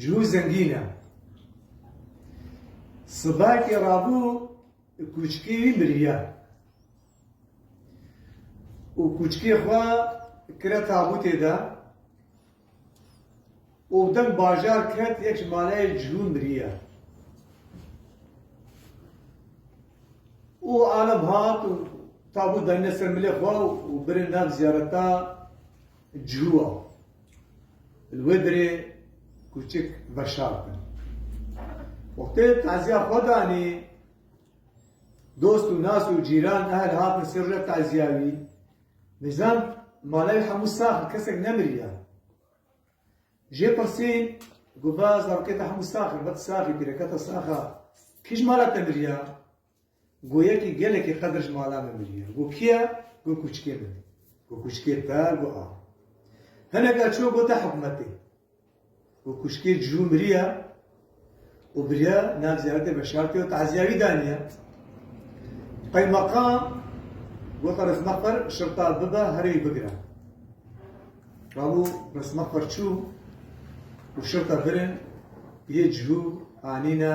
Cihû zengîn e. Sibakê rabû kûçikê wî miriye û kûçikê xwe kire tabûtê de û bi deng bajar ket yek ji maleyê cihû miriye. Û alem hat û tabût danîne ser milê xwe û birê nav ziyareta Cihûa, li wê dirê kûçik veşar bin. Wextê tezîya xwe danî, dost û nas û cîran ehl hatin ser rûya tezîya wî. Nizam malewî hemû sax in, kesek nemiriya. Jê pirsîn, goba zarokê te hemû sax in, bet sax î, pîreketa sax a. Kî ji mala te miriya? Go yekî gelekî qedir ji mala me miriye. Go kî ye? Go kûçikê min. Go kûçikê te, go a. Hineka çû go te hikûmetê. Go kûçikê cû miriye û biriye nav ziyaretê veşartê û tezîya wî daniye. Qeymeqam gota Rizmexwir şirta bibe here wî bigire. Rabû Rizmexwir çû û şirta birin yê cû anîne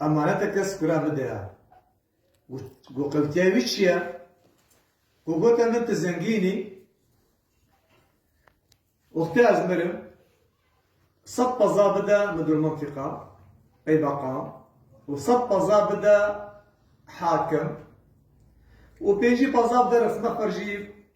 Emanete kes kura bide ya. Ku qewtiya wî çi ye? Ku gote min ti zengîn î, wextê ez mirim sed peza bide midir mintiqa, qeybeqan û sed peza bide hakim û pêncî peza bide rifme xwe jî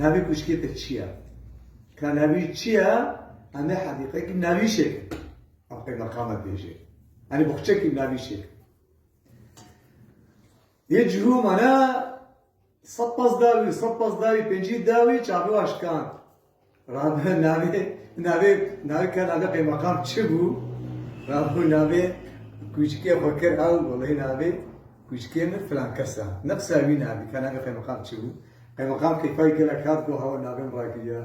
Navê kuşkê te çi ye? Ka navê çi ye? Em ê hedîqekî navî şêkin. Ev qeymeqamek bêjê. Enê boxçekî navî şêkin. Yê cihû mane sed pas dawî, sed pas dawî, pêncî dawî çavê wan şikand. Rabû navê navê navê ke navê qeymeqam çi bû? Rabû navê kûçikê xwe kir ew welay navê kûçikê min filankes e. Ne qisa wî navê ke navê qeymeqam çi bû? Qeymeqam keyfa wî gelek hat got hewa navê min rakiriye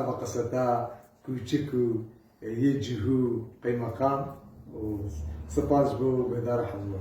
eva qisa ta kûçik û yê cihû qeymeqam û sipas bo guhdarê hemû.